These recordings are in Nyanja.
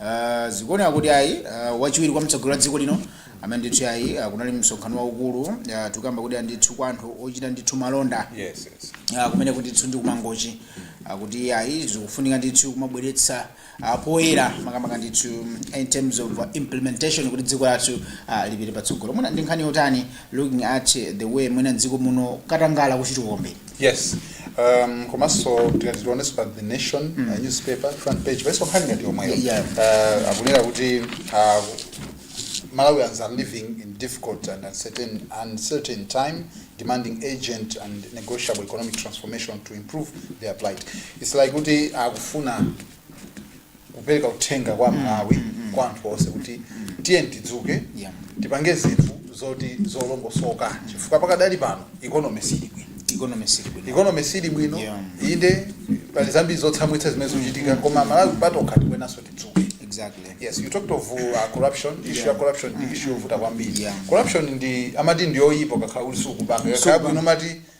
Uh, zikuoneka kuti ayi uh, wachiwiri kwa mtsogoleri wa dziko lino amene ndithu ayi uh, kunali msonkhano waukulu uh, tikukamba kuti andithu kwa anthu ochita ndithu malonda yes, yes. Uh, kumene kuti ndithu ndi kumangochi uh, kuti ayi zikufunika ndithu kumabweretsa uh, poyera makamaka ndithu in terms of uh, implementation kuti dziko lathu uh, lipite patsogolo mwina ndi nkhani yotani looking at the way mwina dziko muno katangala kuchitukombe yes um, komanso tikati tionenso pa the nation uh, newspaper front page paiso nkhani ngati yomweyo Yeah. uh, akunena kuti uh, malawians are living in difficult and uncertain, uncertain time demanding agent and negotiable economic transformation to improve their plight its like kuti akufuna kupereka uthenga kwa amalawi kwa anthu onse kuti tiyeni tidzuke Yeah. tipange zinthu zoti zolongosoka chifukwa pakadali pano ikonomi sili bwino economy sili bwino ikonomi sili bwino Yeah. inde pali zambiri zotsamwitsa zimene zikuchitika koma amalawi patokha tikuyenanso tidzuke exactly yes you talked of uh, corruption issue ya corruption ndi issue yovuta kwambiri Yeah. corruption amati ndi yoyipa ukakhala kuti sukupanga kakhala bwino mati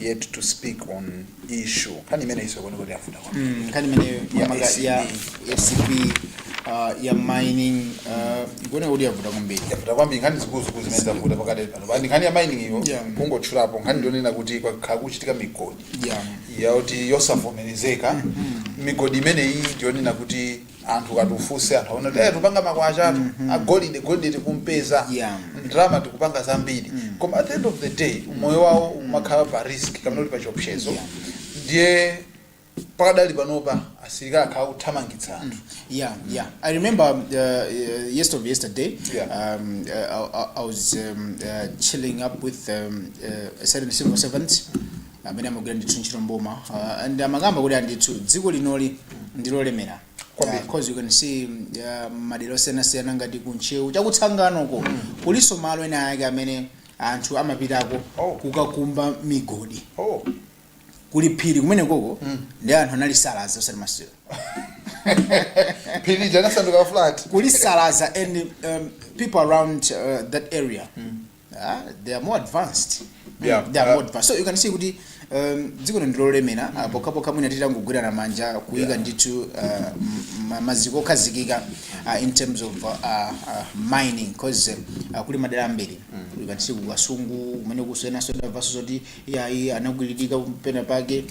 yet to speak on issue nkhani imeneyinso kwenikweni yavuta kwambiri. Mm, nkhani imeneyo Ya yamanga ACB. ya acb uh, ya mining uh, ikuona kuti yavuta kwambiri yavuta kwambiri nkhani zikuluzikulu zimene zavuta pakadali pano ndi nkhani ya mining iyo Yeah. kungotchulapo nkhani ndi yonena kuti kwakhala kukuchitika migodi yeah. yakuti yosavomerezeka migodi imeneyi ndi yonena kuti anthu kuti ufunse anthu aona kuti tikupanga makwacha athu agolide golide tikumpeza Yeah. ndalama tikupanga zambiri koma at the end of the day umoyo wawo umakhala pa risk kapena kuti pa chiopsezo Yeah. ndiye pakadali panopa asilikali akhala akuthamangitsa anthu Yeah, yeah. I remember uh, uh, yesterday of yesterday. Yeah. Um, uh, I, I- I was um, uh, chilling up with um, uh, a certain civil servant amene amagwira ndithu ntchito mboma uh, and amakamba kuti andithu dziko linoli ndilolemera Kwambiri. Uh, cause you can see uh, madera osiyanasiyana ngati kuntcheu chakutsanganoko kulinso malo ena ake amene anthu amapitako Oh. kukakumba migodi oh kuli phiri kumene koko ndi anthu analisalaza osati masiyo phiri lija linasanduka flat kulisalaza and um, people around uh, that area Ah, they are more advanced Mm, Yeah, they are uh, more advanced so you can see kuti um, dziko lino ndilolemera mm. pokhapokha mwina titangogwirana manja kuyika Yeah. ndithu uh, m- ma- maziko okhazikika uh, in terms of uh, uh, mining cause uh, kuli madera ambiri mm. you can see kukasungu kumenekunso enanso ndamvanso zoti iyayi anakwiririka penapake Yes,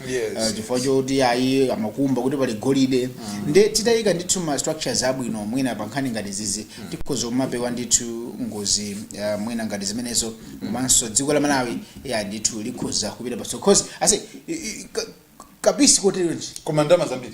uh, chifukwa choti ayi amakumba kuti pali golide nde titaika ndithu ma structures abwino mwina pa nkhani ngati zizi tikhoza kumapewa ndithu ngozi uh, mwina ngati zimenezo komanso dziko la malawi ya ndithu likhoza kupita patsogolo cause i- i- ka- kapisi koteronji koma ndalama zambiri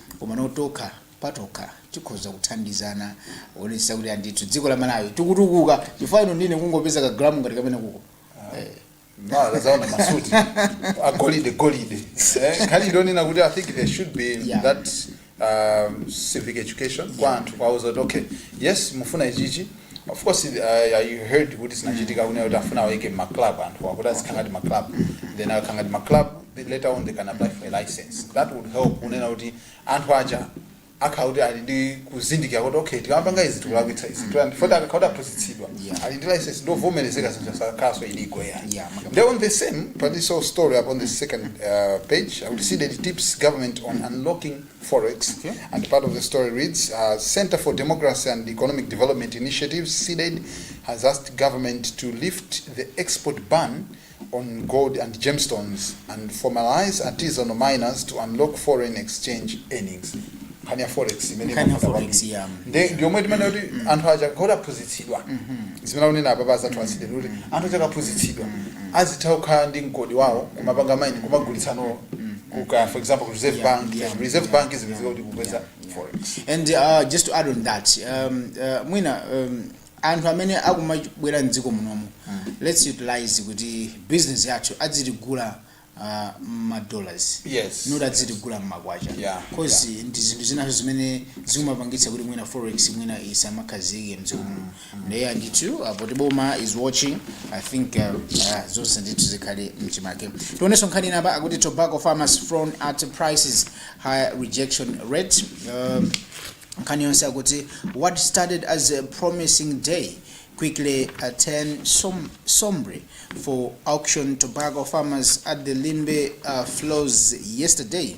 komano tokha patokha tikhoza kuthandizana kuonetsetsa kuti andithu dziko la malawi tikutukuka chifukwa ino ndine kungopeza kagramu ngati kamene kuko Eh. Mara zaona masuti agolide golide Eh, nkhani ndi yonena kuti i think there should be Yeah. that um, civic education kwa anthu kuwauza zoti okay yes mufuna ichichi of course uh, i heard kuti zinachitika kunena kuti akufuna awayike mma club anthu akuti azikhala ngati ma club then akhala ngati ma club then later on they can apply for a license that would help kunena kuti anthu aja akhala kuti ali ndi kuzindikira kuti okay tikamapanga izi tikulakwitsa izi so that akakhala kuti aphunzitsidwa Yeah. ali ndi license ndovomerezeka zinthu sizikhalanso illegal ayi Yeah, maka- Then on the same, but this whole story up on the second uh, page, akuti CDEDI tips government on unlocking Forex, okay. And part of the story reads uh, Center for Democracy and Economic Development Initiatives, CDEDI, has asked government to lift the export ban on gold and gemstones and formalize artisanal miners to unlock foreign exchange earnings. Nkhani ya forex imene Nkhani ya imafuna forex, kwambiri. yeah. Nde ndiyomwe timanena kuti anthu aja bola aphunzitsidwa zimene akunena apapa azathu a CDEDI kuti anthu aja akaphunzitsidwa azitha kukhala ndi mgodi wawo kumapanga mine kumagulitsano kukagulitsa for example ku reserve Yeah, bank yeah, reserve yeah, bank yeah, zimatheka kuti kupeza yeah, yeah. forex and uh, just to add on that um, uh, mwina um, anthu amene akumabwera mdziko munomu let's utilize kuti business yathu adzitigula uh, mmadollars Yes. not adzitigula mmakwacha Yeah, cause ndi zinthu zinanso zimene zimapangitsa kuti mwina forex mwina isamakhazike mdziko munomu Eya ndithu uh, poti boma is watching i think uh, uh, zonse ndithu zikhale mchimake tionenso nkhani ina apa akuti tobacco farmers frown at prices high rejection rate um, nkhani yonse akuti what started as a promising day quickly turned som sombre for auction tobacco farmers at the limbe uh, floors yesterday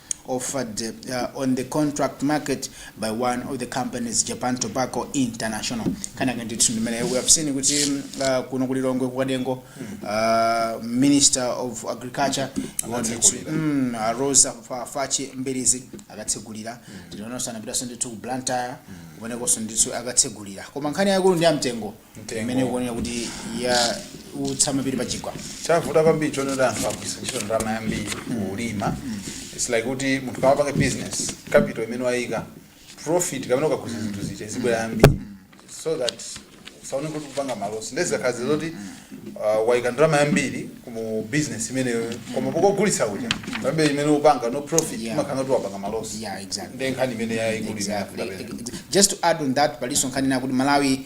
offered uh, on the contract market by one of the companies Japan Tobacco International nkhani yake ndithu ndi imeneyo we have seen kuti mm, uh, kuno ku Lilongwe ku Kanengo uh, minister of agriculture Akatsegulira. mm, uh, Roza Fa- Fachi Mbilizi anakatsegulira ndiyenso anapitanso ndithu ku Blantyre kumenekonso ndithu anakatsegulira koma nkhani yaikulu ndi ya mtengo Mtengo. imene ikuoneka kuti yautsa mapiri pa chigwa chavuta kwambiri chonena kuti anthu agwiritsa ntchito ndalama yambiri kulima it's like kuti munthu ukamapanga business capital imene wayika profit kapena ukagulitsa zinthu zija izibwera yambiri so that usaone kuti ukupanga ma loss nde zikakhala izi zoti uh, wayika ndalama yambiri mu business imeneyo koma pokagulitsa kuja pambuyo imene upanga no profit Yeah. umakhala kuti wapanga ma loss Yeah, exactly. nde nkhani imene yayikulu Exactly. Just to add on that, palinso nkhani ina akuti Malawi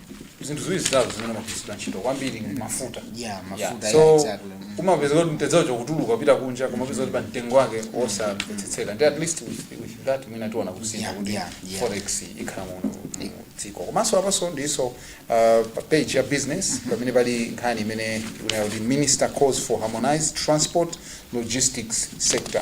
zinthu ziwiri zitatu zimene zimagwiritsidwa ntchito kwambiri ndi mafuta Yeah, Yeah, mafuta, yeah, so exactly. Mm. umapeza kuti mtedzawo ukutuluka kupita kunja kumapeza kuti pa mtengo wake osamvetsetseka nde at least with, with that mwina tiona kusintha Yeah, kuti yeah, yeah. forex ikhala mu mu dziko komanso apanso ndinso uh, pa page ya business pamene pali nkhani imene ikunena kuti minister calls for harmonized transport logistics sector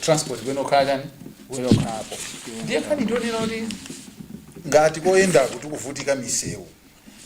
transport kuyenera kukhala chani kuyenera kukhala apo ndiye nkhani ndi yonena kuti ngati poyendaku tikuvutika misewu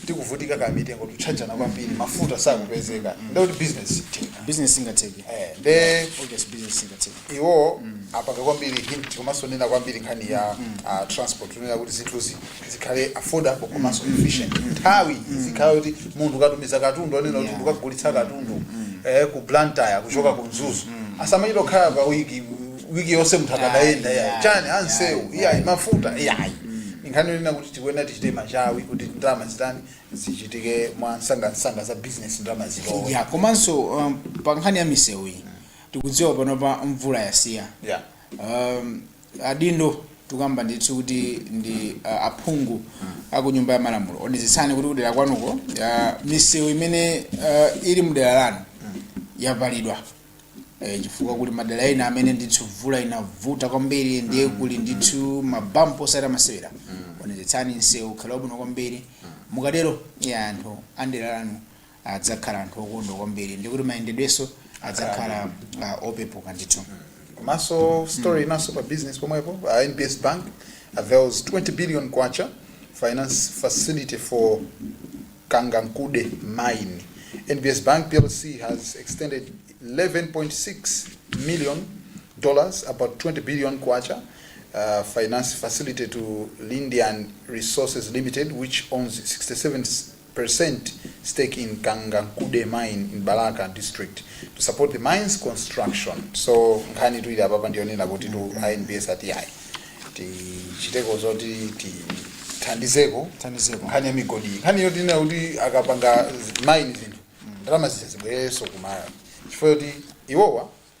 tikuvutika kamitengo tikutchajana kwambiri mafuta sakupezeka ndekuti business singatheke business ingatheke Eh, nde obvious business ingatheke iwo apaka kwambiri hint komanso anena kwambiri nkhani ya ah, transport unena kuti zinthuzi zikhale affordable komanso efficient nthawi izikhala kuti munthu ukatumiza katundu onena kuti Yeah. ukagulitsa katundu eh, ku blantyre kuchoka ku mzuzu asamachita kukhala pa wiki wiki yonse munthu akadayenda Yeah, yeah, chani yeah, msewu yeah. iyayi mafuta iyayi nkhani yonena kuti tikuyenera tichite machawi kuti ndalama zitani zichitike mwa msangamsanga za business ndalama zilowe ya komanso um, pa nkhani ya misewu iyi tikudziwa panopa mvula yasiya yeah. um, adindo tikukamba ndithu kuti ndi uh, aphungu aku nyumba ya malamulo onetsetsani kuti kudera kwanuko uh, misewu imene uh, ili mudera lanu yapalidwa eh, chifukwa kuli madera ena amene ndithu mvula inavuta kwambiri ndiye kuli ndithu mabampu osati a masewera onetsetsani msewu ukhale wabwino kwambiri mukatero ya anthu andera lanu adzakhala anthu okondwa kwambiri ndikuti mayendedwenso adzakhala ah, opepuka ndithu komanso story inanso pa business pomwepo uh, nbs bank avails 20 billion kwacha finance facility for kangankunde mine nbs bank plc has extended 11.6 million dollars about 20 billion kwacha uh, finance facility to lindian resources limited which owns 67 percent stake in Kangankunde mine in Balaka district to support the mines construction so nkhanitu ili apapa ndiyonena kutitu a nbs ati ayi tichiteko zoti tithandizeko Thandizeko. nkhani ya migodi iyi. nkhani yonena kuti akapanga mine zinthu ndalama zija zibwererenso ku Malawi chifukwa yoti iwowa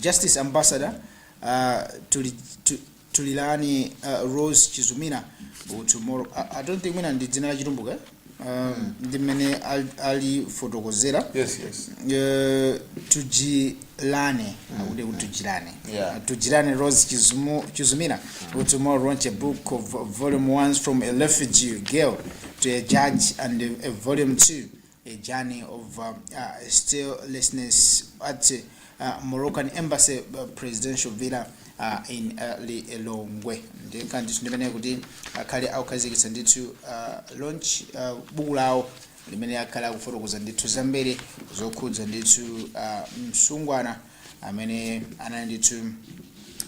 Justice Ambassador tuli tulilani Rose Chizumina u tomorrow I, I don't think mwina ndi dzina la chitumbuka eh? uh, ndi mmene al- alifotokozera Yes, yes. Eh, tujilane akuti kuti tujilane Yeah. tujilane rose Chizumu- chizumina who tomorrow launch a book of volume 1 from a refugee girl to a judge and a, a volume 2 a journey of uh, uh, statelessness at uh, Moroccan embassy uh, presidential villa uh, in uh, Lilongwe ndi nkhani ndithu ndimene kuti akhale akukhazikitsa ndithu uh, launch uh, buku lawo limene akhala akufotokoza ndithu zambiri zokhudza ndithu uh, msungwana amene anali ndithu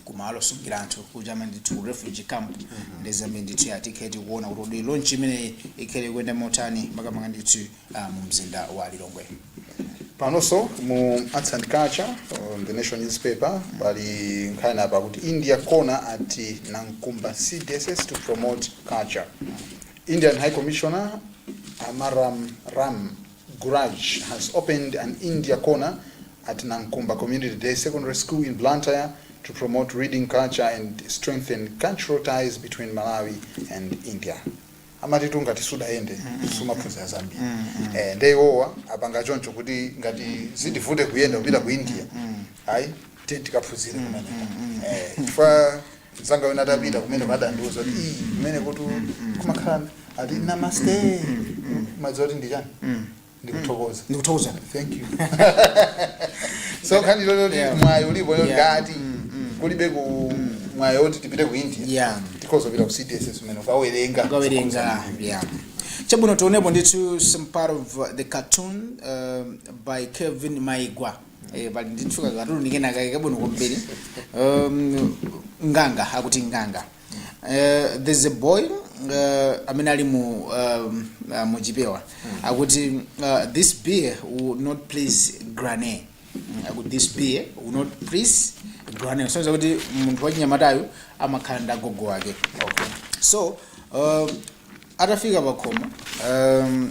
kumalo osungira anthu kuja ma ndithu ku refugee camp ndi zambiri ndithu ya tikhale tikuona kuti kodi launch imeneyi ikhale ikuyenda motani makamaka ndithu ah, mu mzinda wa lilongwe panonso mu arts and culture on the nation newspaper pali nkhani apa kuti India Corner at nankumba cdss to promote culture indian high commissioner amararam Guraj has opened an India corner at Nankumba Community Day Secondary School in Blantyre to promote reading culture and strengthen cultural ties between Malawi and India. amatitu ngati sudaende sumaphunzira zambiri eh, nde iwowa apanga choncho kuti ngati zitivute kuyenda kupita ku india ayi tikaphunzire kumeneko Eh, chifukwa mzanga wina atapita kumeneko adandiuza kuti "Ii, kumeneko tu kumakhala ati namaste madzi oti ndi chani ndikuthokoza ndikuthokoza thank you so nkhani yoti Yeah. mwayi ulipo yo Yeah. ngati kulibe ku mwayi oti tipite ku india Yeah. tikazapita ku CDSS umene ukawerenga ukawerenga yeah. chabwino tionepo ndithu some part of uh, the cartoon um, by kevin maigwa Eh, pali ndithu kakatuni kena kake kabwino kwambiri um, nganga akuti nganga uh, there's a boy uh, amene ali mu um, uh, muchipewa akuti uh, this beer will not please granny akuti this beer will not please granny zosonyeza kuti munthu wachinyamatayu amakhala ndi agogo wake okay. so uh, atafika pakhomo um,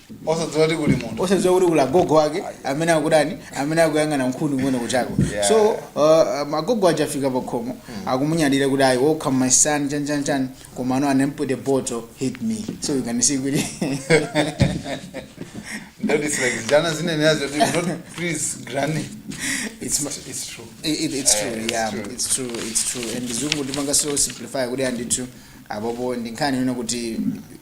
osadziwa kuti kuli munthu osadziwa kuti kuli agogo ake amene akudani amene akuyang'ana nkhuni kumene kutchireko Yeah. so uh, agogo aja afika pakhomo akumunyadira kuti ayi welcome my son chani chani chani komano an empty bottle hit me so you can see kuti That is like Jana zinenera zoti not please granny. It's it's, it's true. It, it, it's true, Eh, it's yeah, true. it's true, it's true. And chizungu ndipanga so simplify kuti andithu apapo ndinkhani yona kuti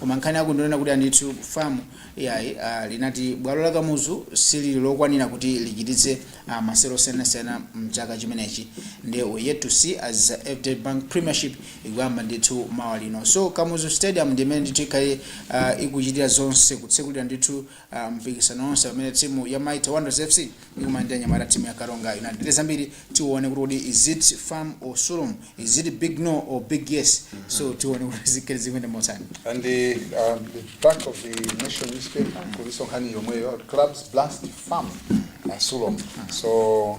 Koma nkhani yake ndi yonena kuti ndithu FAM iyayi ah, linati bwalo la Kamuzu silili lokwanira kuti lichititse ah, masewero osiyanasiyana mchaka chimenechi nde we're yet to see as FDH Bank Premiership ikuyamba ndithu mawa lino so Kamuzu Stadium ndi imene ndithu ikhale ah, ikuchitira zonse kutsekulira ndithu mpikisano wonse pamene timu ya Mighty Wanderers FC ikumana ndi anyamata timu ya Karonga United. Ndi zambiri tione kuti kodi is it FAM or Sulom, is it big no or big yes. So tione kuti zikhale zikuyenda motani. And the, uh, the back of the nation newspaper, kuliso nkhani yomweyo, clubs blast FAM uh, Sulom. So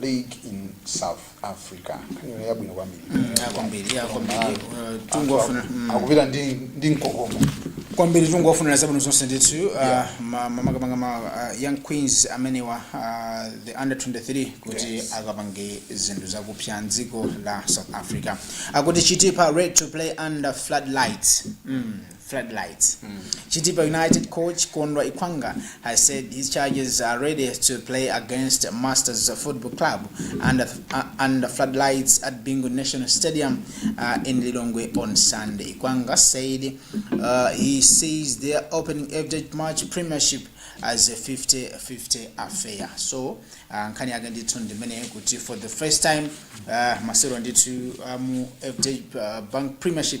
league in south africa nkhani yabwino kwambiri kwambiri ya kwambiri Eh, tungofuna mm. akupita ndi ndi mkokomo kwambiri tingowafunira zabwino zonse ndithu Yeah. uh, ma- ma- makamaka ma uh, young queens amenewa uh, the under 23 kuti Yes. akapange zinthu zakupsa mdziko la south africa akuti chitipa ready to play under floodlights mm. floodlights. Chitipa United coach Kondwa Ikwanga has said his charges are ready to play against Masters Football Club under, uh, under floodlights at Bingu National Stadium uh, in Lilongwe on Sunday. Ikwanga said uh, he sees their opening FDH match premiership as a 50-50 affair so uh, nkhani yake ndithu ndimene kuti for the first time uh, masewero ndithu uh, mu FDH uh, bank premiership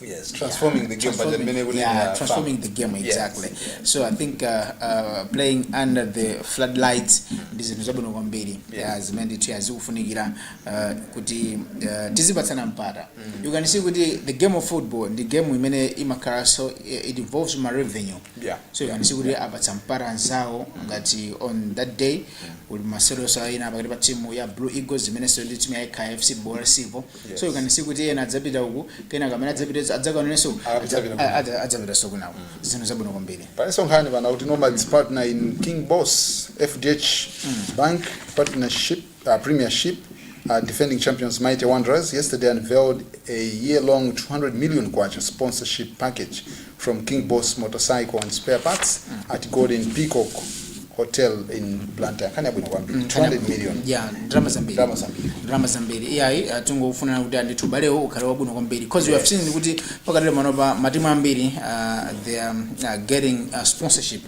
Yes, transforming yeah, the game, but the yeah, transforming the game exactly. Yes, yes. So I think uh, uh, playing under the floodlights mm-hmm. ndi zinthu zabwino kwambiri zimene ndithu azikufunikira uh, kuti uh, tizipatsana mpata. Mm-hmm. You can see kuti the game of football ndi game imene imakhala so eh, it involves ma revenue. Yeah. So you can see kuti apatsa mpata anzawo ngati on that day mm-hmm. uli masewero so ena pakati pa timu ya Blue Eagles imene isewere ndi timu ya KFC Bora Sivo. Yes. so you can see kuti ena adzapita uku kenaka amene adzapita adzakaonenso uku, Apita adza- kwina. a- adza- adzapitanso kunawo zinthu zabwino kwambiri palinso nkhani pano kuti nomads partner in king boss fdh bank partnership uh, premiership uh, defending champions mighty wanderers yesterday unveiled a year-long 200 million kwacha sponsorship package from King Boss Motorcycle and Spare Parts at Golden Peacock Hotel in Blantyre. Nkhani yabwino kwambiri. 200 million. ya ndalama zambiri Ndalama zambiri. ndalama zambiri iyayi uh, tingofuna kuti ndithu ubalewo ukhale wabwino kwambiri because we have seen kuti pakadali panopa matimu ambiri uh, they are um, uh, getting uh, sponsorship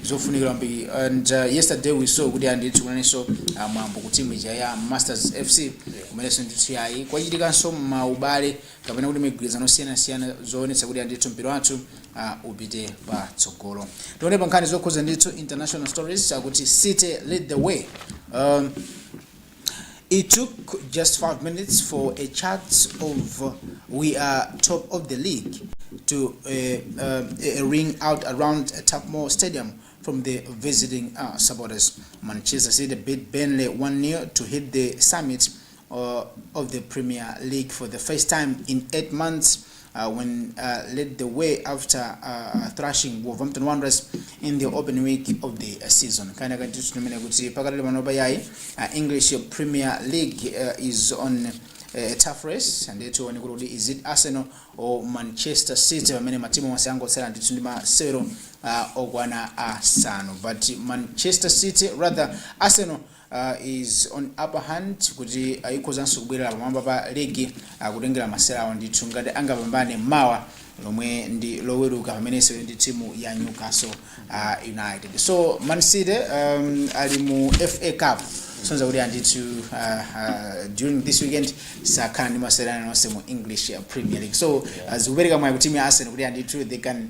zofunikira kwambiri and uh, yesterday we saw kuti ndithu kunalinso uh, mwambo ku timu ija ya masters fc kumenenso ndithu yayi kwachitikanso maubale kapena kuti migwirizano yosiyanasiyana zoonetsa kuti ndithu mpira wathu uh, upite patsogolo tione pa nkhani zokhuza ndithu international stories akuti city lead the way um, It took just five minutes for a chant of uh, we are top of the league to uh, uh, ring out around Turf Moor Stadium from the visiting uh, supporters. Manchester City beat Burnley 1-0 to hit the summit uh, of the Premier League for the first time in eight months uh, when uh, led the way after uh, thrashing Wolverhampton Wanderers in the open week of the uh, season. Kana katitu tumene kuti pakatali manoba yai uh, English Premier League uh, is on uh, a tough race and it when kuti is it Arsenal or Manchester City pamene matimu onse angotsala ndithu ndi masewero uh, okwana asanu but Manchester City rather Arsenal is on upper hand kuti ikhozanso kubwerera pamwamba pa ligi kutengera masewera awo ndithu ngati angapambane mawa lomwe ndi loweruka pamene isewere ndi timu ya newcastle uh, united so man city um, ali mu fa cup kusonyeza kuti ndithu uh, uh, during this weekend sakhala ndi masewera ena aliwonse mu english uh, premier league so uh, zikupereka mwayi ku timu ya arsenal kuti ndithu they can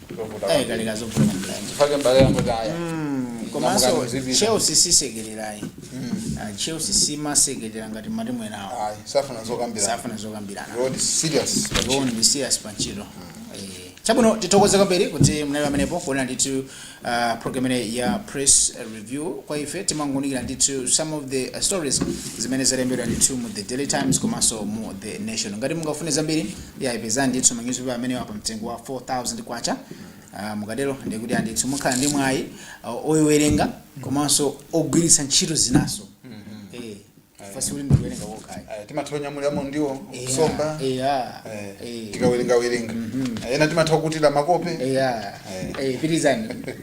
ayi kaleka zovuta kwambiri. chifake mbale yangu taya Mm, komanso Namukani zipita. chelsea sisekerera ayi Ah, chelsea simasekerera ngati matimu enawo ayi safuna zokambira safuna zokambirana road serious John Misias pantchito. Eh, Chabwino tithokoze kwambiri kuti mnali pamenepo kuona ndithu uh, program imeneyi ya press review kwa ife timangounikira ndithu some of the uh, stories zimene zalembedwa ndithu mu the daily times komanso mu the nation ngati mungafune zambiri Iyayi pezani ndithu ma newspaper amenewa pa mtengo wa K4000. Mukatero ndiye kuti ayi ndithu mukhala ndi mwayi oiwerenga komanso ogwiritsa ntchito zinanso. Eeh chifukwa sikuti ndi kuwerenga kokha ayi. Ayi timatha kunyamuliramo ndiwo, Eya, usomba, eya, eh, eh. tikawerengawerenga. Ena timatha kukutira makope. Eya Eh. eh, pitirizani.